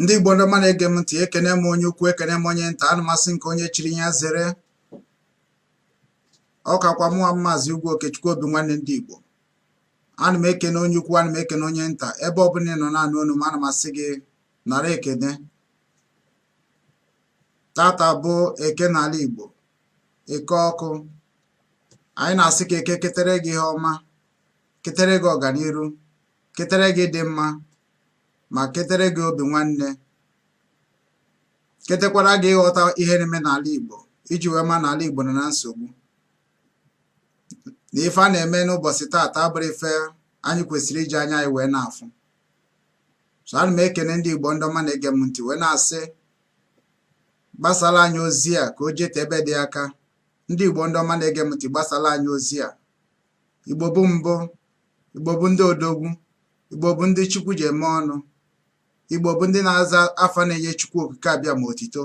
ndị igbo ndị ọma na-ege m ntị ekene m onye ukwu ekene m onye nta ana m asị nke onye chiri ya zere ọ kakwa mụnwa maazị ugwu okechukwu obi nwanne ndị igbo ana m ekene onye ukwu ana m ekene onye nta ebe ọbụla ị nọ na-anụ onu m ana m asị gị nara ekene taata bụ eke n'ala igbo eke ọkụ anyị na-asị ka eke ketere gị ihe ọma ketere gị ọganiru ketere gị ịdị mma ma ketere gị obi nwanne ketekwara gị ịghọta ihe na-eme n'ala Igbo iji wee ma na ala Igbo nọ na nsogbu na ife a na-eme n'ụbọsị taata abụrọ ife anyị kwesịrị iji anya anyị wee na-afụ so ana m ekene ndị Igbo ndị ọma na-ege m ntị wee na-asị gbasara anyị ozi a ka o jete ebe dị aka ndị Igbo ndị ọma na-ege m ntị gbasara anyị ozi a Igbo bụ mbụ, Igbo bụ ndị odogwu, Igbo bụ ndị Chukwu ji eme ọnụ, Igbo bụ ndị na-aza afa na-enye Chukwu okike abiama otito.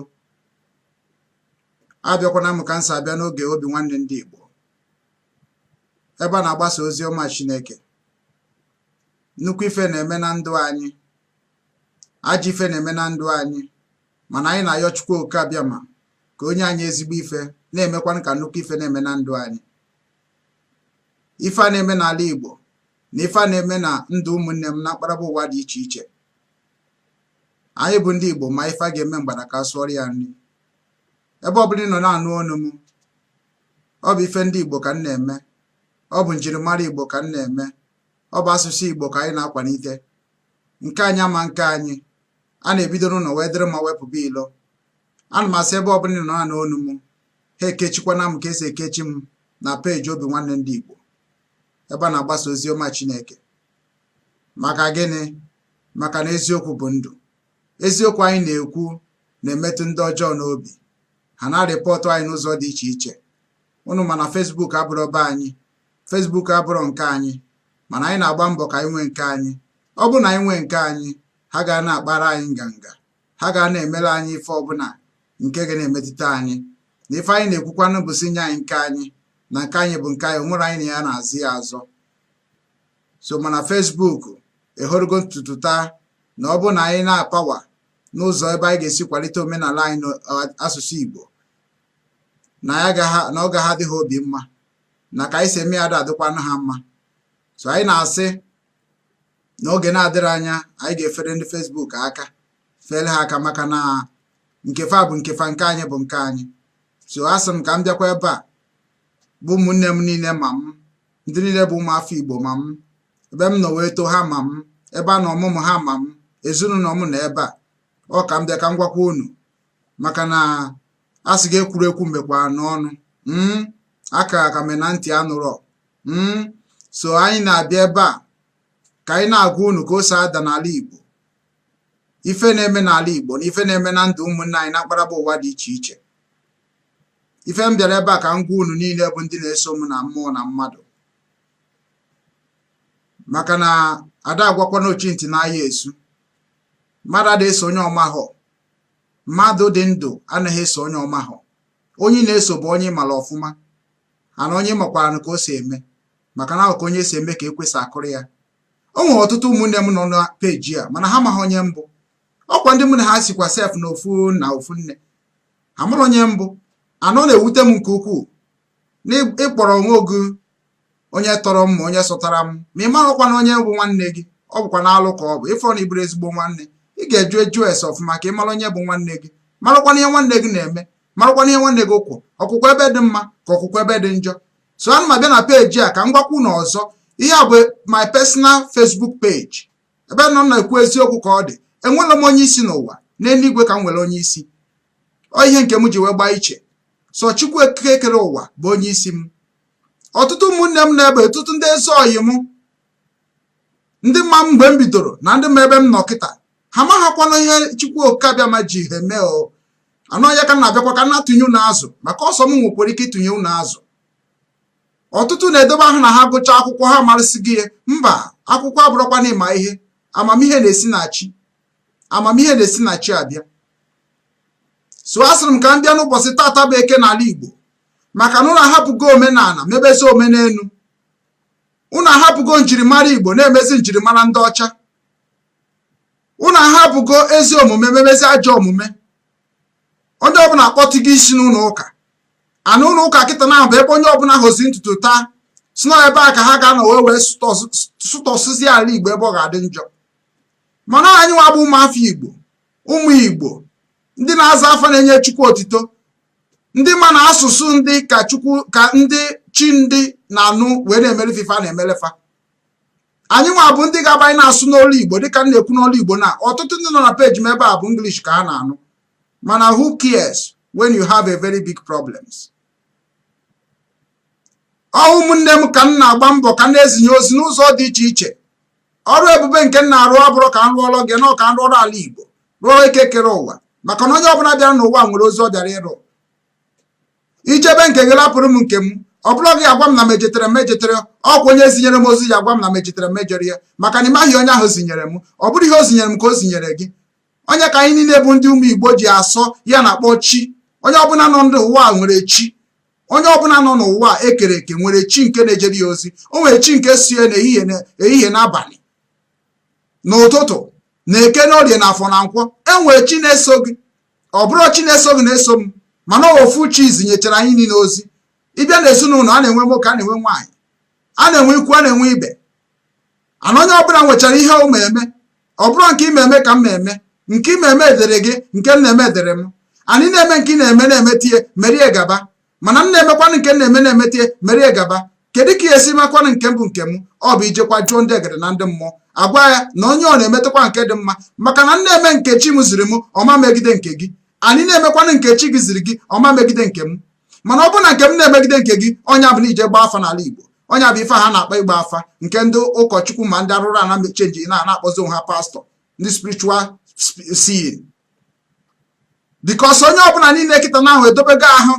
Abịakwana m ka m si abịa n'oge obi nwanne ndị Igbo ebe a na-agbasa ozi ọma Chineke. Nnukwu ife na-eme na ndụ anyị, ajọ ife na-eme na ndụ anyị, mana anyị na-ayọ Chukwu okike abiama ka o nye anyị ezigbo ife na-emekwanụ ka nnukwu ife na-eme na ndụ anyị. ife a na-eme n'ala Igbo na ife a na-eme na ndụ ụmụnne m na mkparaba ụwa dị iche iche anyị bụ ndị Igbo ma ife a ga-eme mgbada ka a sụọrọ ya nri ebe ọbụla ị nọ na-anụ onu m ọ bụ ife ndị Igbo ka m na-eme ọ bụ njirimara Igbo ka m na-eme ọ bụ asụsụ Igbo ka anyị na-akwalite nke anyị ama nke anyị a na-ebido n'ụnọ wee dịrị mma wee pụba ilo ana m asị ebe ọbụla ị nọ na-anụ onu m ha ekechikwana m ka e si ekechi m na peji obi nwanne ndị Igbo ebe a na-agbasa ozi ọma Chineke maka gịnị maka na eziokwu bụ ndụ eziokwu anyị na-ekwu na-emetụ ndị ọjọọ n'obi ha na-arịpọtụ anyị n'ụzọ dị iche iche unu ma na Facebook abụrọ be anyị Facebook abụrọ nke anyị mana anyị na-agba mbọ ka anyị nwee nke anyị ọ bụrụ na anyị nwee nke anyị ha ga na-akpara anyị nganga ha ga na-emere anyị ife ọbụla nke ga na-emetụta anyị na ife anyị na-ekwukwanụ bụ sị nye anyị nke anyị na nke anyị bụ nke anyị o nwerọ onye anyị na ya na-azọ ya azọ so mana Facebook ehorogo n'ụtụtụ taa na ọ bụ na anyị na-apawa n'ụzọ ebe anyị ga-esi kwalite omenala anyị na asụsụ Igbo na ọ gaghị adị ha obi mma na ka anyị si eme ya ada adịkwanụ ha mma so anyị na-asị n'oge na-adịrọ anya anyị ga-efere ndị Facebook aka fere ha aka maka na nke fa bụ nke fa nke anyị bụ nke anyị so asị m ka m bịakwa ebe a bụ ụmụnne m niile ma m ndị niile bụ ụmụafọ Igbo ma m ebe m nọ wee too ha ma m ebe a nọ mụọ m ha ma m ezinụlọ m nọ ebe a ọ ka m bịa ka m gwakwa unu maka na a sị gị ekwurọ ekwu mekwaranụ ọnụ hmm? akara aka me na ntị anụrọ hmm? so anyị na-abịa ebe a ka anyị na-agwa unu ka o si ada n'ala Igbo ife na-eme n'ala Igbo na ife na-eme na ndụ ụmụnne anyị na mkparaba ụwa dị iche iche ife m bịara ebe a ka m gwa unu niile bụ ndị na-eso m na mmụọ na mmadụ maka na a da agwakwanụ ochi ntị na ahịa esu mmadụ adịghị eso onye ọ mahọ mmadụ dị ndụ anaghị eso onye ọ mahọ onye ị na-eso bụ onye ị mara ọfụma and onye ị makwaranụ ka o si eme maka na ọ ka onye si eme ka ekwe si akụrụ ya o nwere ọtụtụ ụmụnne m nọ na peji a mana ha amaghị onye m bụ ọkwa ndị mụ na ha sikwa sef na ofu na ofu nne amarọ onye m bụ and ọ na-ewute m nke ukwuu na ị kpọrọ onwe gị onye tọrọ m ma onye sotara m ma ị maghịkwanụ onye bụ nwanne gị ọ bụkwanụ alụ ka ọ bụ ịfọrọ na ị bụrụ ezigbo nwanne ị ga-ajụ ajụ ese ọfụma ka ị mara onye bụ nwanne gị marakwanụ ihe nwanne gị na-eme marakwanụ ihe nwanne gị kwụ ọ kwụkwa ebe dị mma ka ọ kwụkwa ebe dị njọ so ana m abịa na peji a ka m gwakwa unu ọzọ ihe a bụ my personal Facebook page ebe m nọ na-ekwu eziokwu ka ọ dị enwerọ m onye isi n'ụwa n'eluigwe ka m nwere onye isi ọ ihe nke m ji wee gbaa iche so Chukwu okike kere ụwa bụ onye isi m ọtụtụ ụmụnne m nọ ebe a ọtụtụ ndị ezi oyi m ndị ma m mgbe m bidoro na ndị ma ebe m nọ kịta ha amaghịkwanụ ihe Chukwu Oke Abịama ji ha eme o and ọ ya ka m na-abịakwa ka m na-atụnye unu azụ maka ọ sọ m nwekwara ike ịtụnye unu azụ ọtụtụ na-edobe ahụ na ha gụchaa akwụkwọ ha amarịsigo ihe mba akwụkwọ abụrọkwanụ ịma ihe amamihe na-esi na chi amamihe na-esi na chi abịa so a sịrị m ka m bịa n'ụbọchị taata bụ eke n'ala Igbo maka na unu ahapụgo omenala mebezi omenelu unu ahapụgo njirimara igbo na-emezi njirimara ndị ọcha unu ahapụgo ezi omume memezi ajọ omume onye ọbụla akpọtụgo isi n'ụlọ ụka and ụlọ ụka kịta na bụ ebe onye ọbụla hozi ntutu taa sị na ebe a ka ha ga-anọ wee wee sụtọsụzi ala igbo ebe ọ ga-adị njọ mana anyị nwa bụ ụmụafọ igbo ụmụ igbo ndị na-aza afa na-enye chukwu otito ndị ma na asụsụ ndị ka chukwu ka ndị chi ndị na-anụ wee na-emelụ fa ife a na-emelụ fa anyị nwa bụ ndị ga-aba anyị na-asụ n'olu igbo dịka m na-ekwu n'olu igbo na ọtụtụ ndị nọ na peji m ebe a bụ english ka ha na-anụ mana who cares when you have a very big problems ọ ụmụnne m ka m na-agba mbọ ka m na-ezinye ozi n'ụzọ dị iche iche ọrụ ebube nke m na-arụ abụrọ ka m rụọrọ gị na ọ ka m rụọrọ ala igbo rụọrọ eke kere ụwa maka na onye ọbụla bịara n'ụwa nwere ozi ọ bịara ịrụ i jebe nke gị lapụrụ m nke m ọ bụrọ gị agwa m na m ejetere m ejeterọ ọ kwa onye zinyere m ozi ya agwa m na m ejetere m ejere ya maka na ị maghị onye ahụ zinyere m ọ bụrọ ihe o zinyere m ka o zinyere gị ọ nya ka anyị niile bụ ndị ụmụ igbo ji asọ ya na-akpọ chi onye ọbụla nọ n'ụwa nwere chi onye ọbụla nọ n'ụwa ekere eke nwere chi nke na-ejere ya ozi o nwere chi nke so ya n'ehihie n'abalị n'ụtụtụ na eke n'orie na afọ na nkwọ e nwere chi na-eso gị ọ bụrọ chi na-eso gị na-eso m mana ofu chi zinyechara anyị niile ozi ị bịa na ezinụlọ a na-enwe nwoke a na-enwe nwaanyị a na-enwe ikwu a na-enwe ibe and onye ọbụla nwechara ihe ọ ma eme ọ bụrọ nke ị ma eme ka m ma eme nke ị ma eme dịrị gị nke m na-eme dịrị m and ị na-eme nke ị na-eme na-emeta ya mere ya gaba mana m na-emekwanụ nke m na-eme na-emeta ya mere ya gaba kedu ka e si makwanụ nke m bụ nke m ọ bụ ijekwa jụọ ndị egede na ndị mmụọ agwa ya na onye ọ na-emetakwa nke dị mma maka na m na-eme nke chi m ziri m ọ ma megide nke gị and ị na-emekwanụ nke chi gị ziri gị ọ ma megide nke m mana ọ bụrụ na nke m na-emegide nke gị ọ nya bụ na i je gbaa afa n'ala Igbo ọ nya bụ ife ha na-akpọ ịgba afa nke ndị ụkọchukwu ma ndị arụrụ ana chenji na-akpọzi onwe ha pastọ ndị spiritual seeing because onye ọbụla niile kịta na ahụ edobego ahụ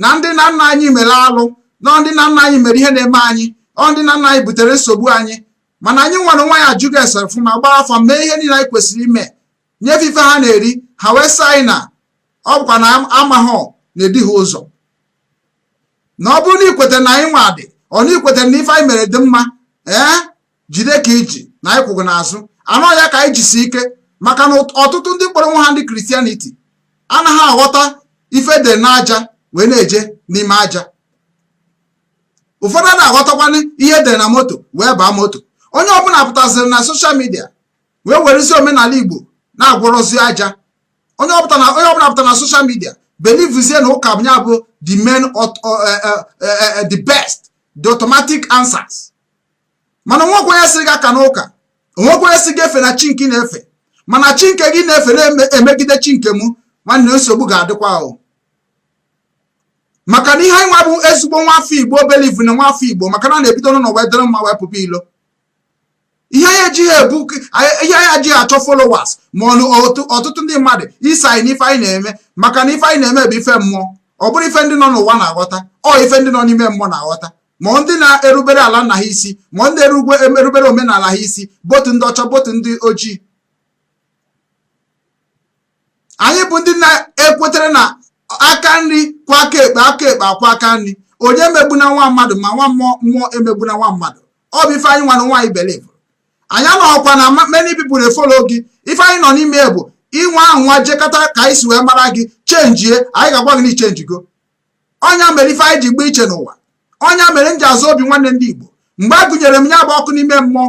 na ndị nna nna anyị mere alụ na ọ ndị nna nna anyị mere ihe na-eme anyị ọ ndị nna nna anyị butere nsogbu anyị mana anyị nwere onwe anyị ajụgo ese ọfụma gbaa afa mee ihe niile anyị kwesịrị ime nye fa ife ha na-eri ha wee sị anyị na ọ bụkwa na amaghọ na-edu ha ụzọ na ọ bụrụ na i kwetara na anyị nwa dị ọ na i kwetara na ife anyị mere dị mma ee jide ka i ji na anyị kwụ gị n'azụ and ọ ya ka anyị jisi ike maka na ọtụtụ ndị kpọrọ onwe ha ndị christianity anaghị aghọta ife e dere n'aja wee na-eje n'ime aja ụfọdụ anaghị aghọtakwanụ ihe e dere na moto wee baa moto onye ọbụla pụtaziri na social media wee werezi omenala igbo na-agwọrọzi aja onye ọbụla pụta na social media believezie na ụka nya bụ the main eh, eh, eh, the best the automatic answers mana o nwekwa onye sị gị agana ụka o nwekwa onye sị gị efena chi nke ị na-efe mana chi nke gị na-efe na-emegide chi nke mụ nwanne nsogbu ga-adịkwa ahụ maka na ihe anyị nwa bụ ezigbo nwa afọ igbo believe na nwa afọ igbo maka na a na-ebido n'ụlọ wee dịrị mma wee pụpụ ilo ihe anyị ejighị ebu ihe anyị ejighị achọ followers ma ọ bụ ọtụtụ ndị mmadụ iso anyị n'ife anyị na-eme maka na ife anyị na-eme bụ ife mmụọ ọ bụrọ ife ndị nọ n'ụwa na-aghọta ọ ife ndị nọ n'ime mmụọ na-aghọta ma ndị na-erubere ala nna ha isi ma ndị erubere omenala ha isi both ndị ọcha both ndị ojii anyị bụ ndị na-ekwetere na aka nri kwọọ aka ekpe aka ekpe akwọọ aka nri onye emegbuna nwa mmadụ ma nwa mmụọ mmụọ emegbuna nwa mmadụ ọ bụ ife anyị nwa na nwaanyị believe anyị anọghọkwa na many people dey follow gị ife anyị nọ n'ime bụ ị nwaa anwa jekata ka anyị si wee mara gị chenjie anyị ga-agwa gị na i chenjigo ọ nya mere ife anyị ji gba iche n'ụwa ọ nya mere m ji aza obi nwanne ndị Igbo mgbe a gụnyere m ya bụ oku n'ime mmụọ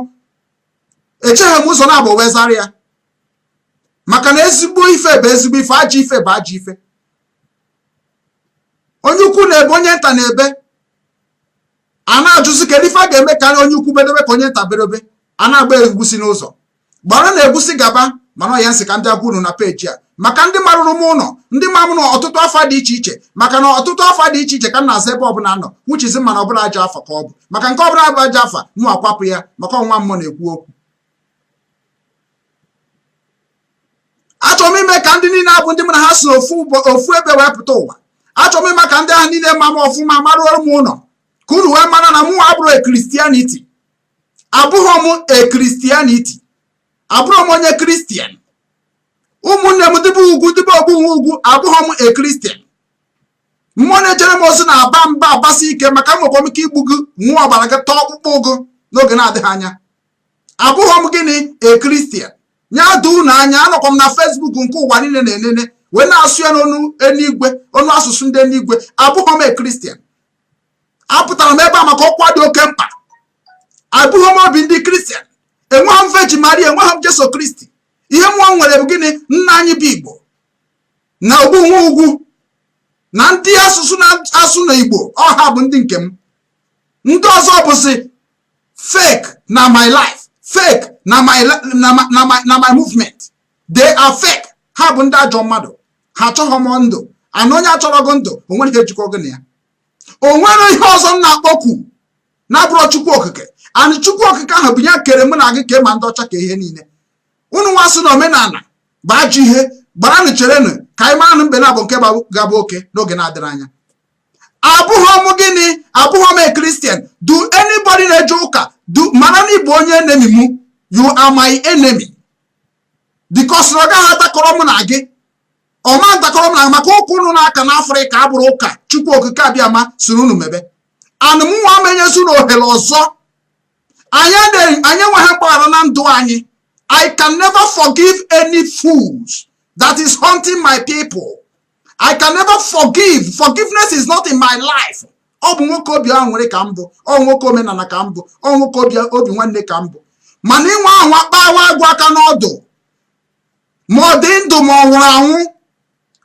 echeghị m ụzọ naabọ wee zara ya maka na ezigbo ife bụ ezigbo ife ajọ ife bụ ajọ ife onye ukwu na-ebe onye nta na-ebe a na-ajụzi kedu ife a ga-eme karịa onye ukwu berebe ka onye nta berebe a na-agba egwusi n'ụzọ gbara na egwusi gaba mana ọ ya m sị ka m bịa gwa unu na page a maka ndị maruru m ụlọ ndị ma m na ọtụtụ afa dị iche iche maka na ọtụtụ afa dị iche iche ka m na-aza ebe ọbụla m nọ which is mana ọ bụrọ ajọ afa ka ọ bụ maka nke ọbụla bụ ajọ afa mụ akwapụ ya maka ọ nwa mmụọ na-ekwu okwu achọrọ m ime ka ndị niile a bụ ndị m na ha si ofu ofu ebe wee pụta ụwa achọrọ m ime ka ndị ahụ niile ma m ọfụma maruoro m ụlọ ka unu wee mara na mụ abụrọ a Christianity abụghị m a Christianity abụrọ m onye Christian ụmụnne m ndị be ugwu ndị be ogbu nwe ugwu abụghị m a Christian mmụọ na-ejere m ozi na-aba mba abasi ike maka enwekwa m ike igbu gị ṅụọ ọbara gị taa ọkpụkpụ gị n'oge na-adịghị anya abụghị m gịnị a Christian nya doo unu anya anọkwa m na Facebook nke ụwa niile na-enene wee na-asụ ya n'onu enigwe onu asụsụ ndị enigwe abụghị m a Christian apụtara m ebe a maka ọkwa dị oke mkpa abụghị m obi ndị Christian enweghị m Virgin maria enweghị m jesu kristi ihe mụ nwa nwere bụ gịnị nna anyị bụ igbo na ogbu nwe ugwu na ndị asụsụ na-asụ na igbo ọ ha bụ ndị nke m ndị ọzọ bụzi fake na my life fake na my na my na my na my movement they are fake ha bụ ndị ajọ mmadụ ha achọghị m ndụ and onye achọrọ gị ndụ o nwere ihe jikọ gị na ya o nwere ihe ọzọ m na-akpọkwu na-abụrọ chukwu okike and chukwu okike ahụ bụ ya kere mụ na gị ka ma ndị ọcha ka ihe niile unu nwa sị na omenala bụ ajọ ihe gbaranụ cherenụ ka anyị maranụ mbe naabọ nke ga-abụ oke n'oge na-adịrọ anya abụghọ m gịnị abụghọ m a Christian do anybody na-eje ụka mara na ị bụ onye enemy m you are my enemy because na ọ gaghị atakọrọ m na gị ọ ma ntakọrọ m na gị maka ụka unu na-aka n'afrịka abụrọ ụka chukwu okike abiama sịrị unu mebe and mụ nwa ama enyezi unu ohere ọzọ anyị enweghị mgbaghara na ndụ anyị i can never forgive any fools that is hunting my people I can never forgive. Forgiveness is not in my life. ọ bụ nwoke obi ahụ nwere ka m bụ ọ nwoke omenala ka m bụ ọ nwoke obi nwanne ka m bụ mana inwe ahụ akpawa agụ aka n'ọdụ ma ọ dị ndụ ma ọ nwụrụ anwụ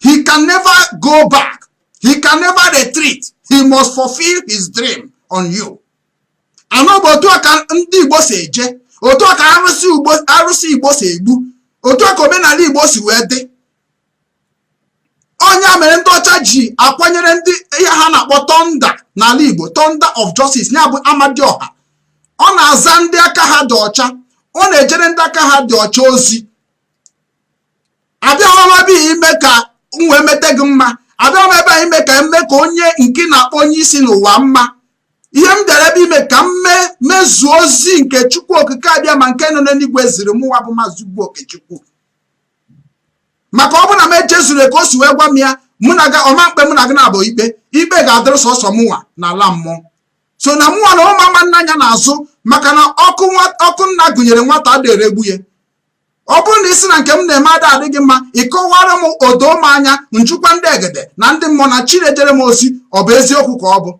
he can never go back he can never retreat he must fulfill his dream on you anọ bụ otu a ka ndị igbo si eje otu a ka arụsị igbo si egbu otu a ka omenala igbo si wee dị ọ nya mere ndị ọcha ji akwanyere ndị ihe ha na-akpọ thunder n'ala Igbo thunder of justice ya bụ Amadioha ọ na-aza ndị aka ha dị ọcha ọ na-ejere ndị aka ha dị ọcha ozi abịaghọ m ebe a ime ka m wee mete gị mma abịaghọ m ebe a ime ka m mee ka onye nke na-akpọ onye isi n'ụwa mma ihe m bịara ebe a ime ka m mee mezuo ozi nke chukwu okike abịama nke nọ n'eluigwe ziri mụwa bụ maazị ugwu okechukwu maka ọ bụrụ na m ejezurọ ka o si wee gwa m ya mụ na ọ ga-ama m ikpe mụ na gị na-abụ ikpe ikpe ga-adịrị sọsọ mụnwa n'ala mmụọ so na mụnwa na mụ ama ene anya n'azụ maka na ọkụ nna gụnyere nwata adịrọ egbu ya ọ bụrụ na ị sị na nke m na-eme ada adịghị mma ị kọwara m o doo m anya m jụkwa ndị egede na ndị mmụọ na chi na-ejere m ozi ọ bụ eziokwu ka ọ bụ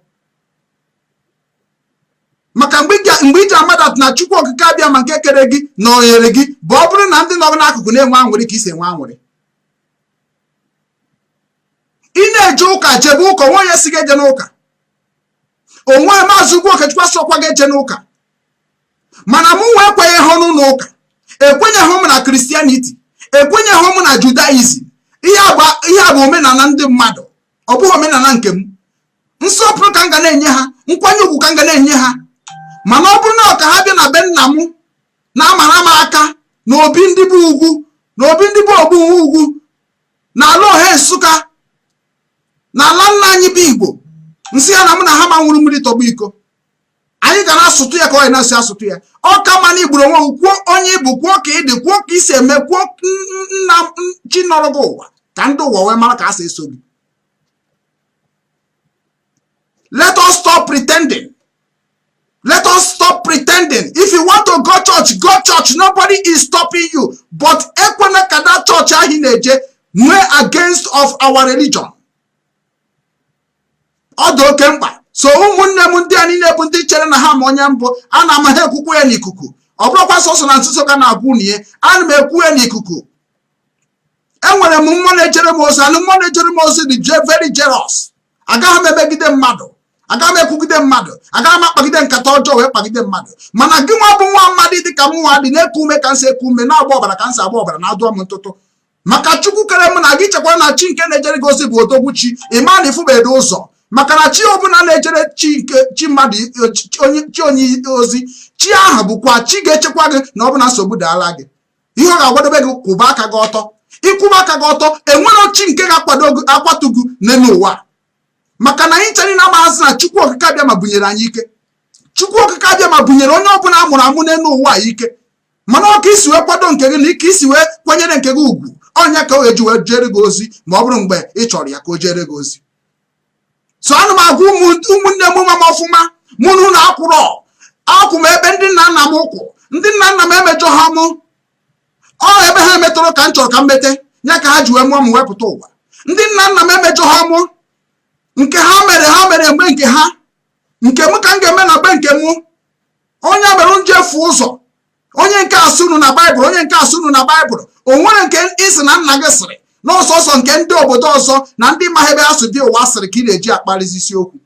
maka mgbe i ji ama that na chukwu okike abịama nke kere gị nọnyere gị bụ ọ bụrụ na ndị nọ n'akụkụ na-enwe anwụrị ka i si enwe anwụrị ị na-eje ụka jebe ụka o nweghị onye sị gị ejena ụka o nweghị maazị ugwu okechukwu asịghọkwa gị ejena ụka mana mụnwa ekwenyeghị m n'ụlọ ụka ekwenyeghị m na Christianity ekwenyeghị m na judaism ihe a bụ omenala ndị mmadụ ọ bụghị omenala nke m nsọpụrụ ka m ga na-enye ha nkwanye ugwu ka m ga na-enye ha mana ọ bụrụ na ọ ka ha bịa na be nna m na-amara m aka na obi ndị be ugwu na obi ndị be ogbu ugwu na ala ohe nsụka na ala nna anyị bụ igbo m sị ya na mụ na ha ama aṅụrụ mmiri tọgbọ iko anyị ga na-asụtụ ya ka a na-esi asụtụ ya ọ ka mma na igburu onwe kwuo onye ị bụ kwuo ka ị dị kwuo ka ị si eme kwuo nna ochie nọrọ gị ụwa ka ndị ụwa wee mara ka a si eso gị let us stop pretending let us stop pretending if you want to go church go church nobody is stopping you but ekwena ka that church ahụ ị na-eje nwee against of our religion ọ dị oke mkpa so ụmụnne m ndị a niile bụ ndị chere na ha ma onye m bụ ana m ha ekwukwu ya n'ikuku ọ bụrọkwa sọsọ na nzuzo ka m na-agwa unu ihe ana m ekwu ya n'ikuku enwere m mmụọ na-ejere m ozi anụ mmụọ na-ejere m ozi dị very jealous agaghị m emegide mmadụ agaghị m ekwugide mmadụ agaghị m akpagide nkata ọjọọ wee kpagide mmadụ mana gị nwa bụ nwa mmadụ dị ka m nwa dị na-eku ume ka m si eku ume na-agba ọbara ka m si agba ọbara na-adụọ m ntụtụ maka chukwu kere m na gị chekwa na chi nke na-ejere gị ozi bụ odogwu chi ịma na ifụbedo ụzọ maka na chi ọbụla na-ejere chi nke chi mmadụ chi onye ozi chi ahụ bụkwa chi ga-echekwa gị na ọ bụrụ na nsogbu daala gị ihe ọ ga-agwadobe gị kwụba aka gị ọtọ ịkwụba aka gị ọtọ enwerọ chi nke ga-akwatu gị n'elu ụwa maka na anyị cha niile maazị na chukwu okike abịama bunyere anyị ike chukwu okike abịama bunyere onye ọbụla a mụrụ amụ n'elu ụwa ike mana ọ ka i si wee kwado nke gị na ka i si wee kwanyere nke gị ugwu ọ nya ka ọ ga-eji wee jere gị ozi ma ọ bụrụ mgbe ị chọrọ ya ka o jere gị ozi so ana m agwa ụmụnne m ma m ọfụma mụ na unu akwụrọ akwụ m ebe ndị nna nna mụ kwụ ndị nna nna m emejọha mụ ọ ebe ha emeterọ ka m chọrọ ka m mete ya ka ha ji wee mụọ m wepụta ụwa ndị nna nna m emejọha mụ nke ha mere ha mere mgbe nke ha nke m ka m ga-eme na mgbe nke mụ onye mere nje fụ ụzọ onye nke a sị unu na baịbụl onye nke a sị unu na baịbụl o nwere nke ị sị na nna gị sịrị na ọ sọsọ nke ndị obodo ọzọ na ndị ma ebe asụ dị ụwa sịrị ka ị na-eji akparịzi isiokwu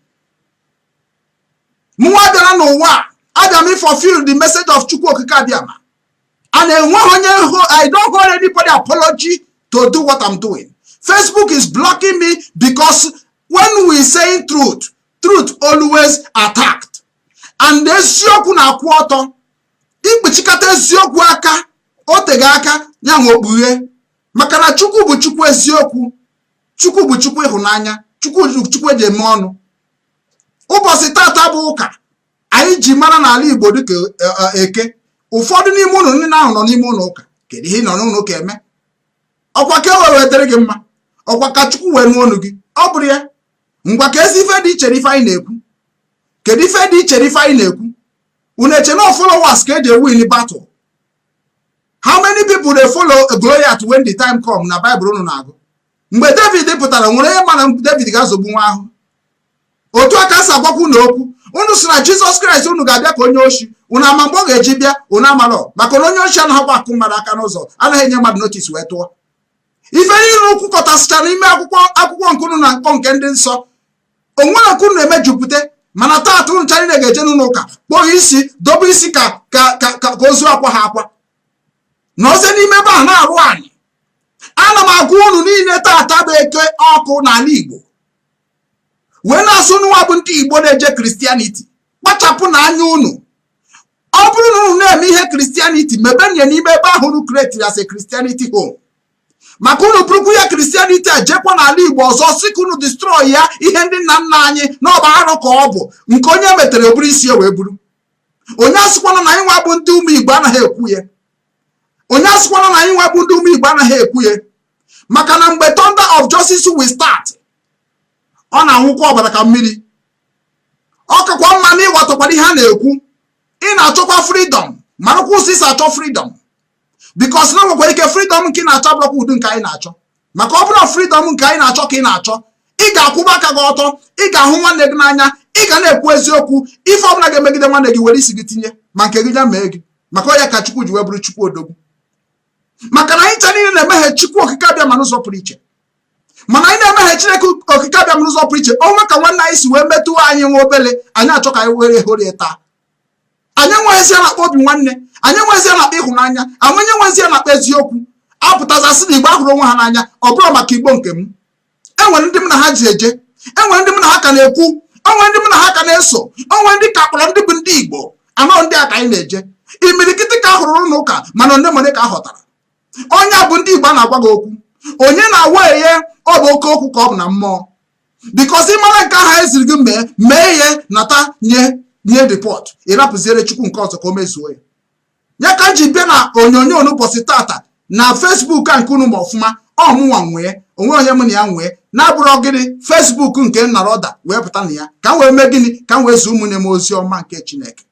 mụnwa bịara n'ụwa abịa m ị fulfill the message of chukwu okike abịama and enwe i don't hold anybody apology to do what i'm doing facebook is blocking me because when we saying truth truth always attacked and eziokwu na-akwụ ọtọ ikpuchikata eziokwu aka o teghị aka ya nwe okpughe maka na chukwu bụ chukwu eziokwu chukwu bụ chukwu ịhụnanya chukwu eji eme ọnụ ụbọchị tata bụ ụka anyị ji mara n'ala igbo dịka e, e, eke ụfọdụ n'ime unu ndị ahụ nọ n'ime ụlọ ụka kedu ihe ị nọ n'ụlọ ụka eme ọkwa ka o wee dịrị gị mma ọkwa ka chukwu wee nụ onu gị ọ bụrụ ya ngwa keezi ife dị iche n'ife anyị na-ekwu kedu ife dị iche n'ife anyị na-ekwu unu eche na followers ka eji ewin battle how many people dey follow Goliath when the time come na Bible unu na-agụ mgbe David pụtara nwere onye ma na David ga-azọgbu nwa ahụ otu a ka m si agwakwu unu okwu unu sị na Jizọs Kraịst unu ga-abịa ka onye oshi unu ama mgbe ọ ga-eji bịa unu amalọ maka na onye oshi anaghịkwa akụ mmadụ aka n'ụzọ anaghị enye mmadụ notis wee tụọ ife niile o kwukọtasịchara n'ime akwụkwọ nke unu na-akpọ nke ndị nsọ o nwere nke unu na-emejupụta mana taata unu cha niile ga-eje n'ụlọ ụka kpọọ isi dobe isi ka ka ka ka ozu akwaha akwa nọzi n'ime ebe ahụ na-arụ anyị ana m agwa unu niile taata bụ eke ọkụ n'ala igbo wee na-asị unu nwa bụ ndị igbo na-eje kristianiti kpachapụnụ anya unu ọ bụrụ na unu na-eme ihe kristianiti mebenye n'ime ebe ahụ unu kretiri as a kristianiti home maka unu burukwu ya kristianiti a jekwa n'ala igbo ọzọ sị ka unu distrọị ya ihe ndị nna nna anyị na ọ bụ arụ ka ọ bụ nke onye metere o buru isi wee buru onye asịkwana na anyị nwa bụ ndị ụmụ igbo anaghị ekwu ya onye asịkwana na anyị nwa bụ ndị ụmụ igbo anaghị ekwu ya maka na mgbe thunder of justice will start ọ na-aṅụkwa ọbara ka mmiri ọ kakwa mma na ị ghọtakwara ihe a na-ekwu ị na-achọkwa fridọm marakwa ụzọ i si achọ fridọm bikos na o nwekwara ike fridọm nke ị na-achọ abụrọkwa ụdị nke anyị na-achọ maka ọ bụrụ fridọm nke anyị na-achọ ka ị na-achọ ị ga-akwụba aka gị ọtọ ị ga-ahụ nwanne gị n'anya ị ga na-ekwu eziokwu ife ọbụla ga-emegide nwanne gị were isi gị tinye ma nke gị ya mee gị maka ọ ya ka chukwu ji wee bụrụ chukwu odogwu maka na anyị ncha niile na-emehie chukwu okike abịama n'ụzọ pụrụ iche mana anyị na-emehie chineke okike abịama n'ụzọ pụrụ iche o nwee ka nwanne anyị si wee metụ anyị nwa obele anyị achọ ka anyị were hụrụ ya taa anyị enweghịzi na-akpọ obi nwanne anyị enweghịzi na-akpọ ịhụnanya anyị enweghịzi na-akpọ eziokwu a pụtazia sị na igbo ahụrọ onwe ha n'anya ọ bụrụ maka igbo nke m enwere ndị m na ha yi eje enwere ndị m na ha ka na-ekwu enwere ndị m na ha ka na-eso enwere ndị ka kpọrọ ndị bụ ndị igbo anọ ndị a ka anyị na-eje imirikiti ka a hụrụ ụlọ ụka mana olemole ka a họtara onye bụ ndị Igbo a na-agwa gị okwu onye na-awa ihe ọ bụ oke okwu ka ọ bụ na mmụọ bikos ị mara nke ahụ eziri gị mee mee ya nata nye nye ripọt ị rapụziere Chukwu nke ọzọ ka o mezuo ya ya ka m ji bịa na onyonyo n'ụbọchị tata na fesbuk a nke unu ma ọfụma ọ mụnwa nwee o nwee onye m na ya nwee na-abụrụ gịnị fesbuk nke nna roda wee pụta na ya ka m wee mee gịnị ka m wee zi ụmụnne m ozi ọma nke chineke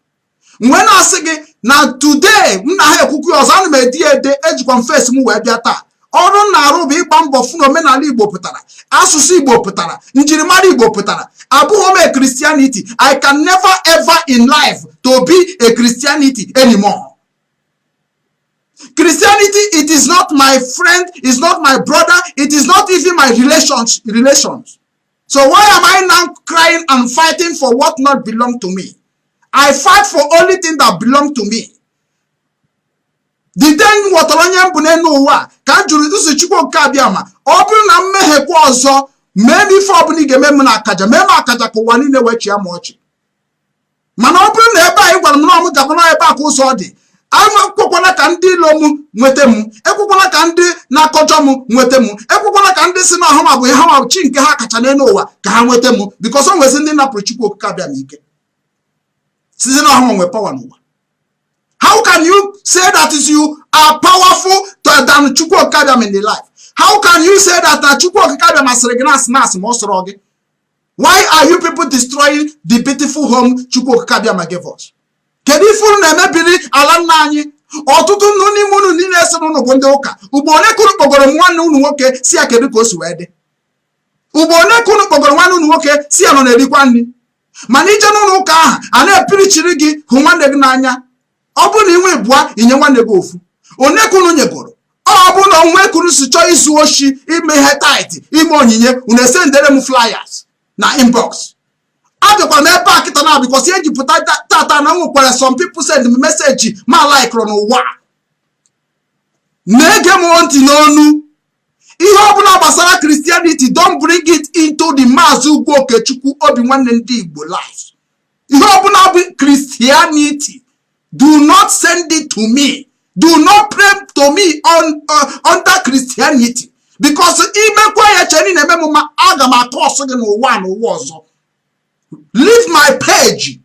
mgbe m na-asị gị na today m na ha ekwukwu ọzọ ana m ede ya ede ejikwa m fesi m wee bịa taa ọrụ m na-arụ bụ ịgba mbọ fụ na omenala igbo pụtara asụsụ igbo pụtara njirimara igbo pụtara abụghị m a christianity i can never ever in life to be a christianity anymore christianity it is not my friend is not my brother it is not even my relations So why am I now crying and fighting for what not belong to me? I fight for only thing that belong to me. The day m ghọtara onye m bụ n'elu ụwa ka m jụrụ ụzọ Chukwu Okike abịama ọ bụrụ na m mehiekwa ọzọ mee m ife ọbụla ị ga-eme m na akaja mee m akaja ka ụwa niile wee chịa m ọchị mana ọ bụrụ na ebe a ị gwara m na mụ gaba na ebe a ka ụzọ dị ekwekwala ka ndị ilo m nweta m ekwekwala ka ndị na-akọjọ m nweta m ekwekwala ka ndị sị na ọ hanwa bụ ihe ha chi nke ha kacha n'elu ụwa ka ha nweta m bikọs o nwezi ndị napụrụ Chukwu Okike abịama ike sịzi na ọ hanwa nwee pawa n'ụwa how can you say that you are powerful than Chukwu Okike abịama in the life how can you say that Chukwu Okike abịama sịrị gị na asị na asị ma ọ sọrọ gị why are you people destroying the beautiful home chukwu okike abịama gave us kedu ife unu na-emebiri ala nna anyị ọtụtụ unu n'ime unu niile sị na unu bụ ndị ụka ugbo ole ka unu kpọgoro nwanne unu nwoke sị ya kedu ka o si wee dị ugbo ole ka unu kpọgoro nwanne unu nwoke sị ya na ọ na-erikwa nri mana i je n'ụlọ ụka ahụ a na-epirichiri gị hụ nwanne gị n'anya ọ bụrụ na i nwee ịbụa i nye nwanne gị ofu one ka unu nyegoro ọ bụ na o nwe ka unu si chọọ izu oshi ime ihe tithe ime onyinye unu esendere m flyers na inbox abịakwara m ebe a kịta na because e ji pụta tata na e nwekwara some people send m message ma like unu nwa na-ege m ntị n'ọnụ ihe ọbụla gbasara christianity don't bring it into the maazị ugwu okechukwu obi nwanne ndị igbo life ihe ọbụla bụ christianity do not send it to me do not pray to me on, uh, under christianity because i mekwa ya chee na ị na-eme m mma aga m akọsụ gị n'ụwa n'ụwa ọzọ leave my page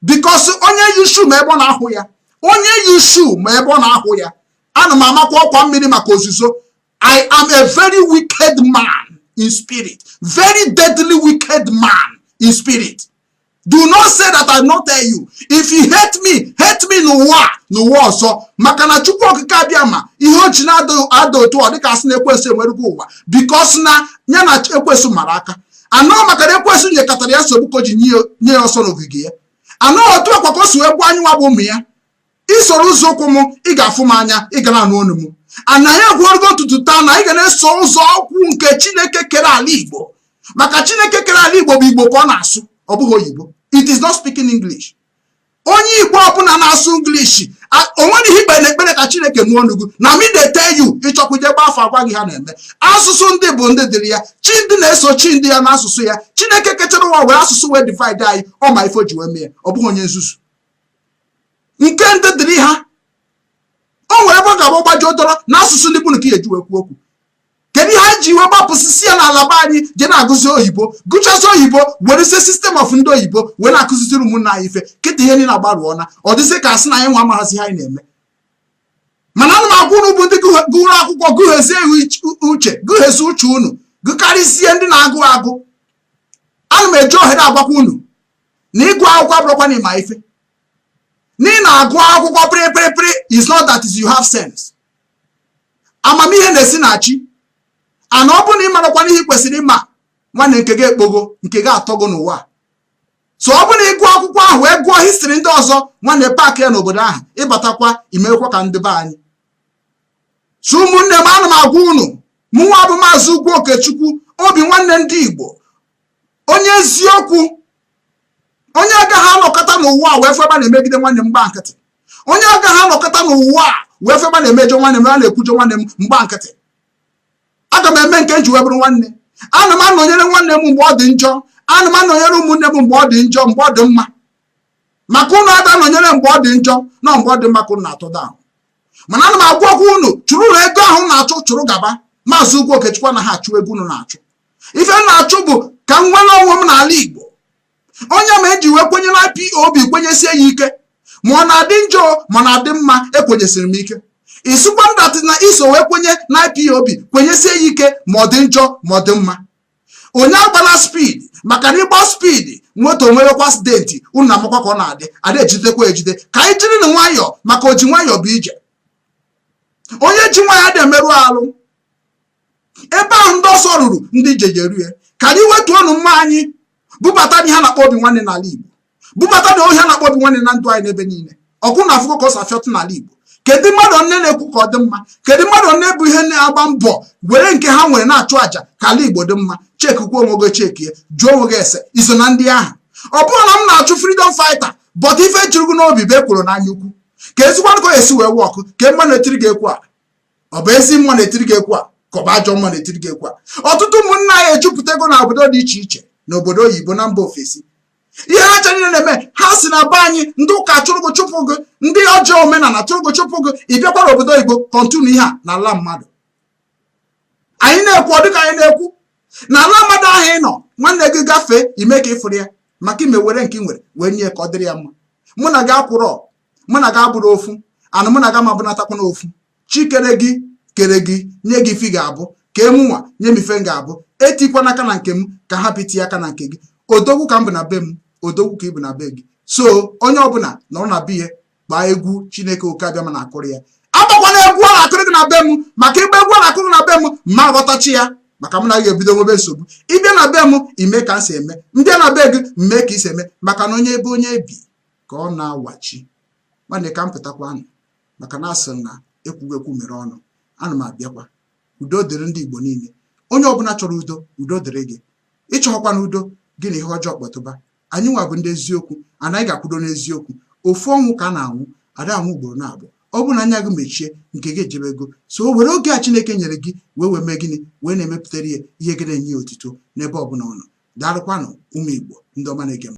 because onye yi shoe ma ebe ọ na-ahụ ya onye yi shoe ma ebe ọ na-ahụ ya ana m amakwa ọkwa mmiri maka ozuzo I am a very wicked man in spirit, very deadly wicked man in spirit. Do not say that I not tell you. If you hate me, hate me n'ụwa n'ụwa ọzọ maka na Chukwu Okike Abịama ihe o ji na-ada otu ọ dị ka a sị na ekwensu enwerego ụwa because na ya na ekwensu mara aka and ọ maka na ekwensu nyekatara ya nsogbu ka o ji nye ya ọsọ n'ogige ya and ọ otu a kwa ka o si egbu anyị nwa bụ ụmụ ya i soro ụzọ ụkwụ m ị ga-afụ m anya ị ga na-anụ ọnụ m anyị ekwurugo n'ụtụtụ taa na anyị ga na-eso ụzọ ụkwụ nke chineke kere ala igbo maka chineke kere ala igbo bụ igbo ka ọ na-asụ ọ bụghị oyibo it is not speaking english onye igbo ọbụla na-asụ english o nweghị ihe i kpe n'ekpere ka chineke nụọ ọnụ gị na me dey tell you ị chọkwuo je gbaa afa a gwa gị ihe na-eme asụsụ ndị bụ ndị dịrị ya chi ndị na-eso chi ndị ya n'asụsụ ya chineke kechara ụwa were asụsụ wee divide anyị ọ ma ife o ji wee mee ọ bụghị onye nzuzu nke ndị dịrị ha o nwere ebe ọ ga-agba gbaji ụtọrọ na asụsụ ndị bụ nke e ji wee kwuo okwu kedu ihe anyị ji wee gbapụsisịa n'ala be anyị je na-agụzi oyibo gụchazi oyibo werezie system of ndị oyibo wee na-akụziziri ụmụnna anyị ife kịta ihe niile agbarụọ na ọ dịzị ka a sị na anyị nwa amaghazị ihe anyị na-eme mana ana m agwa unu bụ ndị gụrụ akwụkwọ gụghezie uche gụghezie uche unu gụkarịzie ndị na-agụ agụ ana m eji ohere agwakwa unu na ịgụ akwụkwọ abụrọkwa na ịma ife na ị na-agụ akwụkwọ pịrịpịrịpịrị is not that you have sense amamihe na-esi na chi and ọ bụrụ na ị marọkwa ihe ị kwesịrị ịma nwanne nke gị ekpogo nke gị atọgo n'ụwa so ọ bụrụ na ị gụọ akwụkwọ ahụ wee gụọ history ndị ọzọ nwanne park ya n'obodo ahụ ị batakwa i mekwa ka ndị be anyị so ụmụnne m ana m agwa unu mụnwa bụ maazị ugwu okechukwu obi nwanne ndị igbo onye eziokwu onye agaghị anọkata n'ụwa a wee feba na-emegide nwanne m m gba nkịtị onye agaghị anọkata n'ụwa a wee feba na-emejọ nwanne m a na-ekwujọ nwanne m m gba nkịtị aga m eme nke m ji wee bụrụ nwanne ana m anọnyere nwanne m mgbe ọ dị njọ ana m anọnyere ụmụnne m mgbe ọ dị njọ mgbe ọ dị mma maka ụnụ ada anọnyere mgbe ọ dị njọ na mgbe ọ dị mma ka ụnụ na-atụ down mana ana m agwakwa ụnụ chụrụnụ ego ahụ na-achụ chụrụ gaba Maazị Ugwu Okechukwu anaghị achụ ego ụnụ na-achụ ife m na-achụ bụ ka m nwere onwe m n'ala Igbo ọ ya m ji wee kwenye na IPOB kwenyesie ya ike ma ọ na-adị njọ ma na-adị mma ekwenyesiri m ike ị sịkwa m that na i so wee kwenye na IPOB kwenyesie ya ike ma ọ dị njọ ma ọ dị mma onye agbala speed maka na ịgba speed moto nwewekwa accident unu amakwa ka ọ na-adị ada ejidekwa ejide ka anyị jiri na nwayọọ maka oji nwayọọ bụ ije onye ji nwayọọ ada emerụ arụ ebe ahụ ndị ọsọ ruru ndị ije ejeru ya ka anyị wetuo ọnụma anyị bubata ihe a na-akpọ obi nwanne n'ala Igbo bubatanụ ihe a na-akpọ obi nwanne na ndụ anyị n'ebe niile ọkụ na afụkọ ka ọ safịọtụ n'ala Igbo kedu mmadụ one na-ekwu ka ọ dị mma kedu mmadụ one bụ ihe na-agba mbọ were nke ha nwere na-achụ àjà ka ala Igbo dị mma chekikwa onwe gị chekie jụọ onwe gị ese iso na ndị ahụ ọ bụrụ na m na-achụ freedom fighter but ife juru gị n'obi bụ ekworo na anyaukwu ka ezigbo nkọ esi wee wọkụ ka mma na-etiri gị egwu a ọ bụ ezi mma na-etiri gị egwu a ka ọ bụ ajọ mma na-etiri gị egwu a ọtụtụ ụmụnna anyị ejupụtago na obodo dị iche iche na obodo oyibo na mba ofesi ihe ha chere niile na-eme ha si na be anyị ndị ụka chụrụ gị chụpụ gị ndị ọjọọ omenala chụrụ gị chụpụ gị ị bịakwara obodo oyibo continue ihe a na ala mmadụ anyị na-ekwu ọ dịka anyị na-ekwu na ala mmadụ ahụ ị nọ nwanne gị gafee ime ka ị fụrọ ya maka ime were nke ị nwere wee nye ka ọ dịrị ya mma mụ na gị akwụrọ mụ na gị abụrọ ofu and mụ na gị ama abụnatakwanụ ofu chi kere gị kere gị nye gị ife ị ga-abụ kee mụnwa nye m ife m ga-abụ etikwana aka na nke m ka m hapụ iti aka na nke gị odogwu ka m bụ na be m odogwu ka ị bụ na be gị so onye ọbụla nọrọ na be ya gbaa egwu chineke oke abịama na-akụrụ ya agbakwana egwu a na-akụrụ gị na be m maka ịgba egwu a na-akụrụ gị na be m ma aghọtacha ya maka m na gị ebido nwebe nsogbu ịbịa na be m ime ka m si eme m bịa na be gị m mee ka i si eme maka na onye ebe onye bi ka ọ na-awachi nwanne ka m pụtakwanụ maka na a sị na ekwughị ekwu mere ọnụ ana m abịakwa udo dịrị ndị Igbo niile onye ọbụla chọrọ udo udo dịrị gị ị chọghịkwanụ udo gị na ihe ọjọọ kpọtụba anyịnwa bụ ndị eziokwu anyị ga-akwudo n'eziokwu ofu ọnwụ ka a na-anwụ ada anwụ ugboro naabọ ọ bụrụ na anya gị mechie nke gị ejebego so were oge a Chineke nyere gị wee wee mee gịnị wee na-emepụtara ya ihe gị na-enye ya otito n'ebe ọbụla ọ nọ daalụkwanụ ụmụ Igbo ndị ọma na-ege m